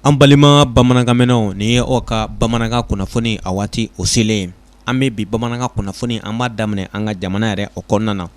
an balima bamanankanmɛnnaw nin ye aw ka bamanankan kunnafoni a waati o selen an bɛ bi bamanankan kunnafoni an b'a daminɛ an ka jamana yɛrɛ o kɔnɔna na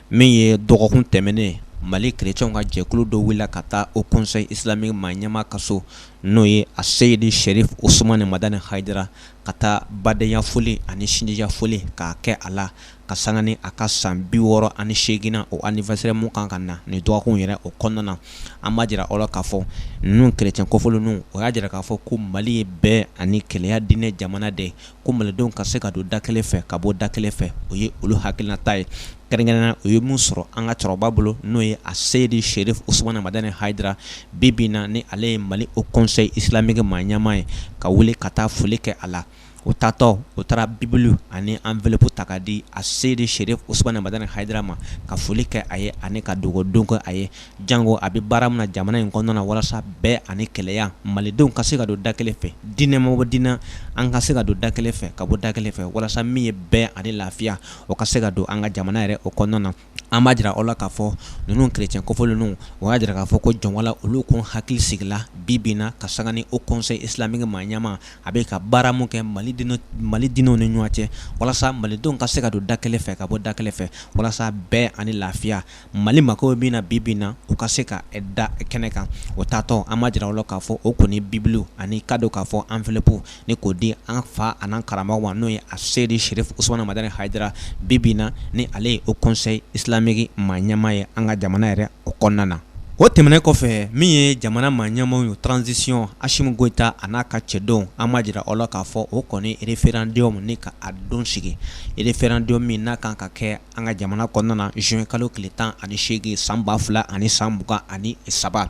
min ye dɔgɔkun tɛmɛnen mali kerecɛnw ka jɛkulu dɔ wulila ka taa haut conseil islamique maa ɲɛmaa ka so n'o ye a seyidi sherif usumani madani hayidara ka taa badenya foli ani sinjiya foli k'a kɛ a la ka sanga ni a ka san bi wɔɔrɔ ani seeginnan o anniversaire mun kan ka na nin dɔgɔkun yɛrɛ o kɔnɔna na an b'a jira aw la k'a fɔ ninnu kerecɛn kɔfɔlen ninnu o y'a jira k'a fɔ ko mali ye bɛn ani kelenya diinɛ jamana de ko malidenw ka se ka don da kelen fɛ ka bɔ da kelen fɛ o ye olu hakilinata ye kɛrɛnkɛrɛnnenya u ye min sɔrɔ an ka cɛkɔrɔba bolo n'o ye a seyidi sherif usumana madani hayidara bi bi in na ni ale ye mali haut conseil islamique maa ɲɛmaa ye ka wuli ka taa foli kɛ a la o taatɔ o taara bibulu ani enveloppe ta k'a di a seyidi sherif usumana madani hayidara ma ka foli kɛ a ye ani ka dugawu don kɛ a ye jango a bɛ baara min na jamana in kɔnɔna walasa bɛn ani kelenya malidenw ka se ka don da kelen fɛ diinɛ ma bɔ diinɛ na an ka se ka don da kelen fɛ ka bɔ da kelen fɛ walasa min ye bɛn ani lafiya o ka se ka don an ka jamana yɛrɛ o kɔnɔna na an b'a jira aw la k'a fɔ ninnu kerecɛn kofɔlen ninnu o y'a jira k'a fɔ ko jɔnwala olu kɔni hakili sigila bi bi in na ka sanga ni haut conseil islamique maa ɲɛmaa a bɛ ka baara min kɛ mali diinɛw ni ɲɔgɔn cɛ walasa malidenw ka se ka don da kelen fɛ ka bɔ da kelen fɛ walasa bɛn ani lafiya mali mako bɛ min na bi bi in na u ka se ka da kɛnɛ kan o taatɔ an b'a jira aw la k'a fɔ o kɔni bibulu ani ka don k'a fɔ enveloppe ni k'o di an fa ani karamɔgɔ ma n'o ye a seyidi sherif usumana madani hayidara bi bi in na ni ale ye haut conseil islamique maa ɲɛmaa ye an ka jamana yɛrɛ o kɔnɔna na o tɛmɛnen kɔfɛ min ye jamana maa ɲɛmaaw ye transition Asimi Goyita a n'a ka cɛdenw an b'a jira aw la k'a fɔ o kɔni référendum ni ka a don sigi référendum min n'a kan ka kɛ an ka jamana kɔnɔna na juin kalo tile tan ani seegin san ba fila ani san mugan ani saba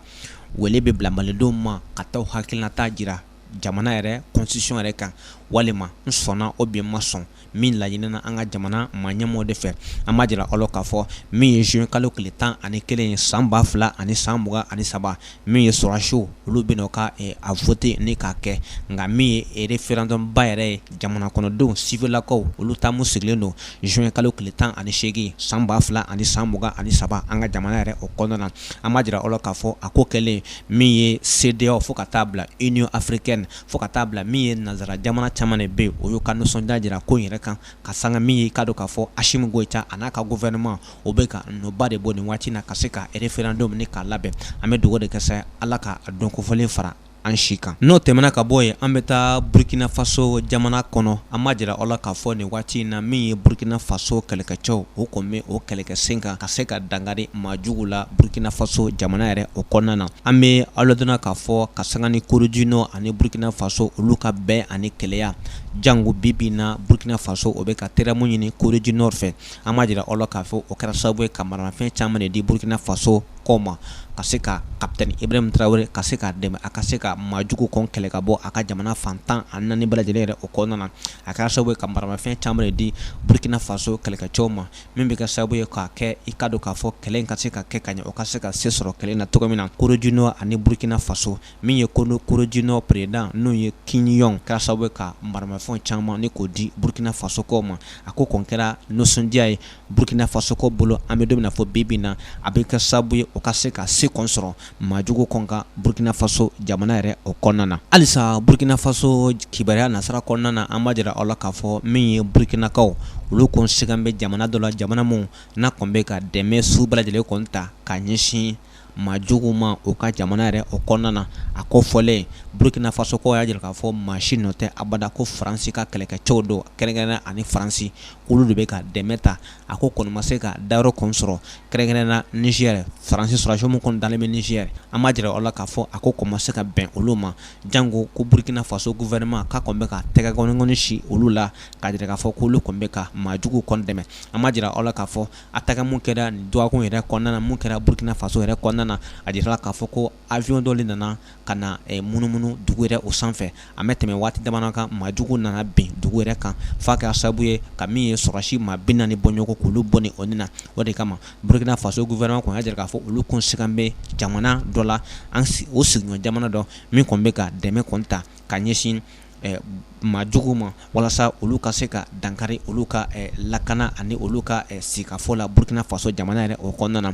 wele bɛ bila malidenw ma ka taa u hakilinata jira jamana yɛrɛ constitution yɛrɛ kan walima n sɔnna ou bien n ma sɔn min laɲinina an ka jamana maa ɲɛmaaw de fɛ an b'a jira aw la k'a fɔ min ye juin kalo tile tan ani kelen ye san ba fila ani san mugan ani saba min ye sɔrɔdasiw olu bɛna o ka a vote nin k'a kɛ nka min ye référendum ba yɛrɛ ye jamana kɔnɔdenw sivilakaw olu ta mun sigilen don juin kalo tile tan ani seegin san ba fila ani san mugan ani saba an ka jamana yɛrɛ o kɔnɔna na an b'a jira aw la k'a fɔ a ko kɛlen min ye CEDEAO fo ka taa bila union africaine fo ka taa bila min ye nanzara jamana caman de bɛ o y'u ka nisɔndiya jira ko yɛrɛ kan ka sanga min ye ka don k'a fɔ asimi goyita a n'a ka gouvernement o bɛ ka nɔba de bɔ nin waati na ka se ka référendum nin k'a labɛn an bɛ dugawu de kɛ sa ala ka don kofɔlen fara an si kan n'o tɛmɛna ka bɔ yen an bɛ taa burukinafaso jamana kɔnɔ an b'a jira aw la k'a fɔ nin waati in na min ye burukina faso kɛlɛkɛcɛw o kɔni bɛ o kɛlɛkɛ sen kan ka se ka danga maa jugu la burukinafaso jamana yɛrɛ o kɔnɔna na an bɛ aw ladɔnniya k'a fɔ ka sanga ni Corée du Nord ani burukinafaso olu ka bɛn ani kelenya jango bi bi in na burukinafaso o bɛ ka teriya mun ɲini Corée du Nord fɛ an b'a jira aw la k'a fɔ o kɛra sababu ye ka maramafɛn caman de di burukinafasokaw ma ka se ka capitaine Ibrahim Traoré ka se k'a dɛmɛ a ka se ka maa jugu kɔni kɛlɛ ka bɔ a ka jamana fan tan ani naani bɛɛ lajɛlen yɛrɛ o kɔnɔna na a kɛra sababu ye ka maramafɛn caman de di burukinafaso kɛlɛkɛcɛw ma min bɛ kɛ sababu ye k'a kɛ i k'a dɔn k'a fɔ kɛlɛ in ka se ka kɛ ka ɲɛ o ka se ka se sɔrɔ kɛlɛ in na cogo min na Corée du Nord ani burukina faso min ye ko Corée du Nord président n'o ye Kim Jong kɛra sababu ye ka maramafɛn caman ni k'o di burukina fasokaw ma a ko kɔni kɛra nisɔndiya ye burukina fasokaw bolo an bɛ don min na fɔ bi bi in na a bɛ kɛ sababu ye o ka se ka se kɔni sɔrɔ maajugu kɔni kan burukinafaso jamana yɛrɛ o kɔnɔna na halisa burukinafaso kibaruya nasira kɔnɔna na an b'a jira aw la k'a fɔ min ye burukinakaw olu kɔni sigan bɛ jamana dɔ la jamana min n'a kɔni bɛ ka dɛmɛ sugu bɛɛ lajɛlen kɔni ta ka ɲɛsin maajugu ma u ka jamana yɛrɛ o kɔnɔna na a ko fɔlen burukinafasokaw y'a jira k'a fɔ maa si nɔ tɛ abada ko faransi ka kɛlɛkɛcɛw don kɛrɛnkɛrɛn ani faransikaw olu de bɛ ka dɛmɛ ta a ko kɔni ma se ka dayɔrɔ kɔni sɔrɔ kɛrɛnkɛrɛn na Niger Faransi sɔrɔdasiw minnu kɔni dalen bɛ Niger an b'a jira aw la k'a fɔ a ko kɔni ma se ka bɛn olu ma janko ko Burkina Faso gouvernement k'a kɔni bɛ ka tɛgɛkɔni kɔni sin olu la k'a jira k'a fɔ k'olu kɔni bɛ ka maa juguw kɔni dɛmɛ an b'a jira aw la k'a fɔ attaque mun kɛra nin dɔgɔkun yɛrɛ kɔnɔna na mun kɛra Burkina Faso yɛrɛ kɔnɔna na a jirala k'a fɔ ko avion dɔ de nana ka na munumunu dugu yɛrɛ o sanfɛ, a ma tɛmɛ waati damadɔ kan, maa jugu nana bin dugu yɛrɛ kan f'a kɛra sababu ye ka min ye sɔrɔdasi maa 40 bɔ ɲɔgɔn k'olu bɔnɛ o ni na, o de kama Burukina Faso gouvernement kɔni y'a jira k'a fɔ olu kɔni sigan bɛ jamana dɔ la, o sigiɲɔgɔn jamana dɔ min kɔni bɛ ka dɛmɛ kɔni ta ka ɲɛsin ɛ maa juguw ma walasa olu ka se ka dankari olu ka ɛ lakana ani olu ka ɛ sigikafɔ la Burukina Faso jamana yɛrɛ o kɔnɔna na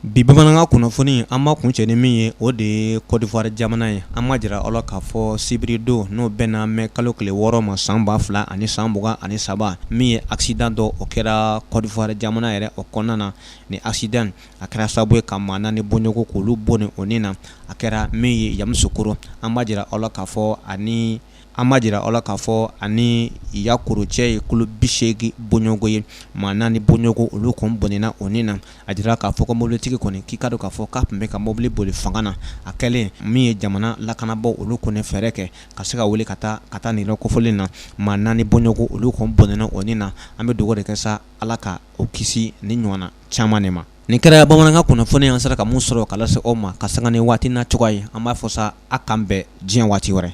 Bi bamanankan kunnafoni an b'a kuncɛ ni min ye o de ye Côte d'Ivoire jamana ye an b'a jira aw la k'a fɔ sibiridon n'o bɛnna mɛkalo tile wɔɔrɔ ma san ba fila ani san mugan ani saba min ye accident dɔ o kɛra Côte d'Ivoire jamana yɛrɛ o kɔnɔna na nin accident in a kɛra sababu ye ka maa naani bɔɲɔgɔn k'olu bɔnɛ o ni na a kɛra min ye Yamoussoukro an b'a jira aw la k'a fɔ ani an b'a jira aw la k'a fɔ ani Yakro cɛ ye kilo bisegin bɔɲɔgɔn ye maa naani bɔɲɔgɔn olu kɔni bɔnɛna o ni na a jira k'a fɔ ko mobilitigi kɔni k'i k'a dɔn k'a fɔ k'a tun bɛ ka mobili boli fanga na a kɛlen min ye jamana lakanabaaw olu kɔni fɛɛrɛ kɛ ka se ka wuli ka taa ka taa nin yɔrɔ kofɔlen na maa naani bɔɲɔgɔn olu kɔni bɔnɛna o ni na an bɛ dugawu de kɛ sa ala ka o kisi nin ɲɔgɔnna caman de ma nin kɛra bamanankan kunnafoni an sera ka min sɔrɔ k'a lase aw ma ka sanga ni waati na cogoya ye an b'a fɔ sa a k'an bɛn diɲɛ waati wɛrɛ